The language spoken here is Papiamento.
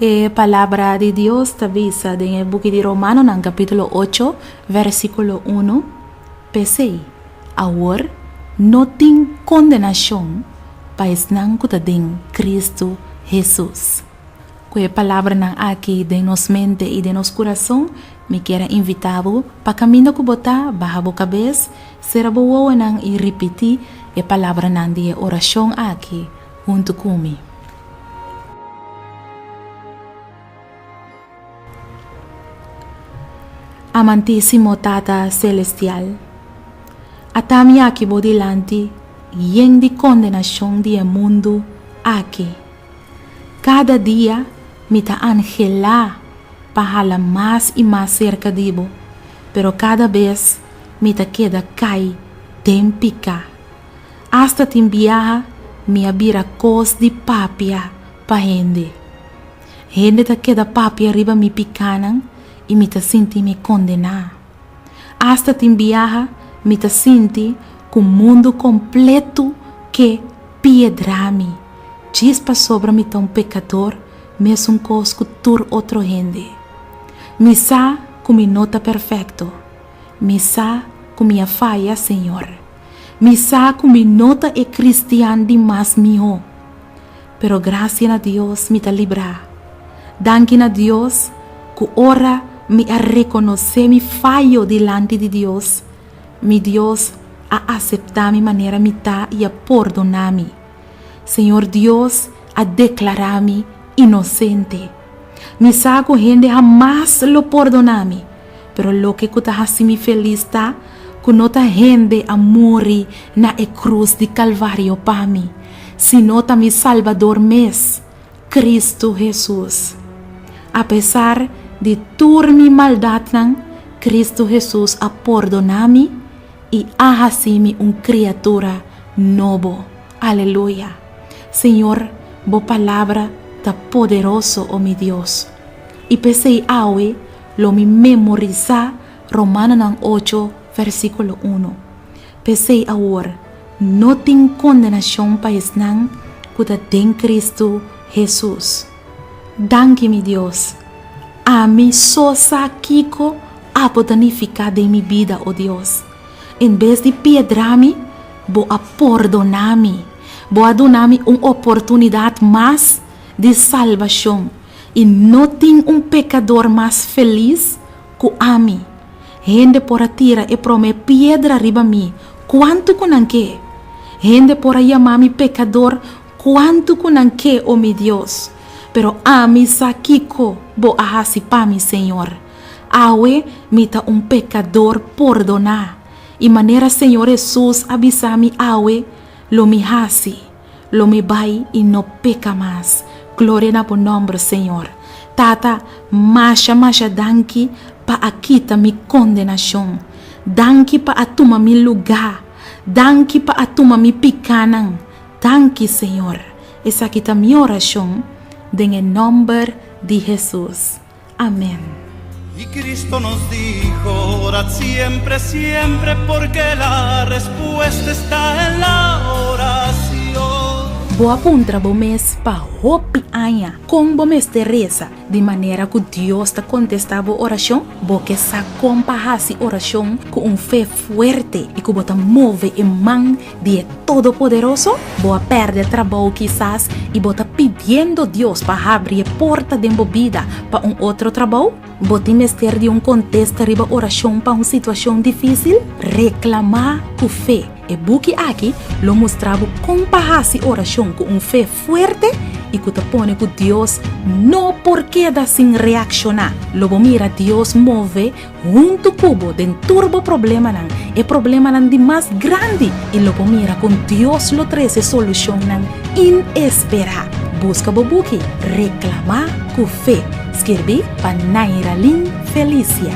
E palabra di Dios ta bisa den e buki di Romanonan capítulo 8, versículo 1, Pesey, awor no tin condenacion pa esnan cu ta den Cristo Jesús. Ku e palabranan aki den nos mente i den nos kurason, mi kier a invitá bo pa kaminda ku bo ta, baha bo kabes, sera bo wowonan i ripití e palabranan di e orashon aki huntu ku mi. Amantísimo Tata Selestial, ata mi aki bo dilanti yen di kondenashon di e mundu aki. Kada dia mi ta anhelá pa hala mas i mas serka di bo, pero kada bes mi ta keda kai den piká. Asta tin biaha mi a bira kos di papia pa hende. Hende ta keda papia riba mi pikánan i mi ta sinti mi kondená. Asta tin biaha mi ta sinti ku mundu kompletu ke piedrá mi, djis pasobra mi ta un pekador mesunkos ku tur otro hende. Mi sa ku mi no ta perfekto. Mi sa ku mi a faya, Señor. Mi sa ku mi no ta e kristian di mas mihó. pero grasia na Dios mi ta librá. Danki na Dios ku ora mi a rekonosé mi fayo dilanti di Dios, mi Dios a aseptá mi manera mi ta i a pordoná mi. Señor Dios a deklará mi inosente. Mi sa ku hende hamas lo pordoná mi. Pero loke ku ta hasi mi felis ta ku no ta hende a muri na e krus di Kalvario pa mi, sino ta mi Salbador mes, Kristu Hesus. Apesar di tur mi maldatnan, Kristu Hesus a pordoná mi i a hasi mi un kriatura nobo. Aleluya! Señor, bo palabra ta poderoso, o mi Dios. I p'esei awe, Lo mi memorisá Romanonan ocho, versíkulo unu. P'esei awor no tin kondenashon pa esnan ku ta den Kristu Hesus. Danki, mi Dios! Ami so sa kiko a por ta nifiká den mi bida, o Dios. En bes di piedrá mi, Bo a pordoná mi. Bo a duna mi un oportunidat mas di salbashon. i no tin un pekador mas felis ku ami. Hende por a tira e promé piedra riba mi kuantu ku nan ke. Hende por a yama mi pekador kuantu ku nan ke, o mi Dios. Pero ami sa kiko bo a hasi pa mi, Señor. Awe mi ta un pekador pordoná, i manera Señor Hesus a bisa mi awe, lo mi hasi. Lo mi bai i no peka mas. Gloria na bo nòmber, Señor. Tata, masha masha danki pa a kita mi kondenashon. Danki pa a tuma mi lugá. Danki pa a tuma mi pikánan. Danki, Señor. Esaki ta mi orashon den e nòmber di Hesus. Amen. Y Cristo nos dijo, Orad siempre, siempre, porque la respuesta está en la oración. Bo a puntra bo mes pa hopi aña con bo mester reza di manera cu Dios ta contesta bo oracion? Bo ke sa con pa haci oracion cu un fe fuerte y cu bo ta move e man di e Todopoderoso? Bo a pèrdè trabou kisas i bo ta pidiendo Dios pa habri e porta den bo bida pa un otro trabou? Bo tin mester di un kontesta riba orashon pa un situashon difísil? Reklamá ku fe. E buki aki lo mustra bo kon pa hasi orashon ku un fe fuerte i ku ta pone ku Dios no por keda sin reakshoná. Lo bo mira Dios move Huntu ku bo den tur bo problemanan, e problemanan di mas grandi, i lo bo mira kon Dios lo trese solushonnan inesperá. Buska bo buki Reklamá ku fe, skirbí pa Nairalin Felicia.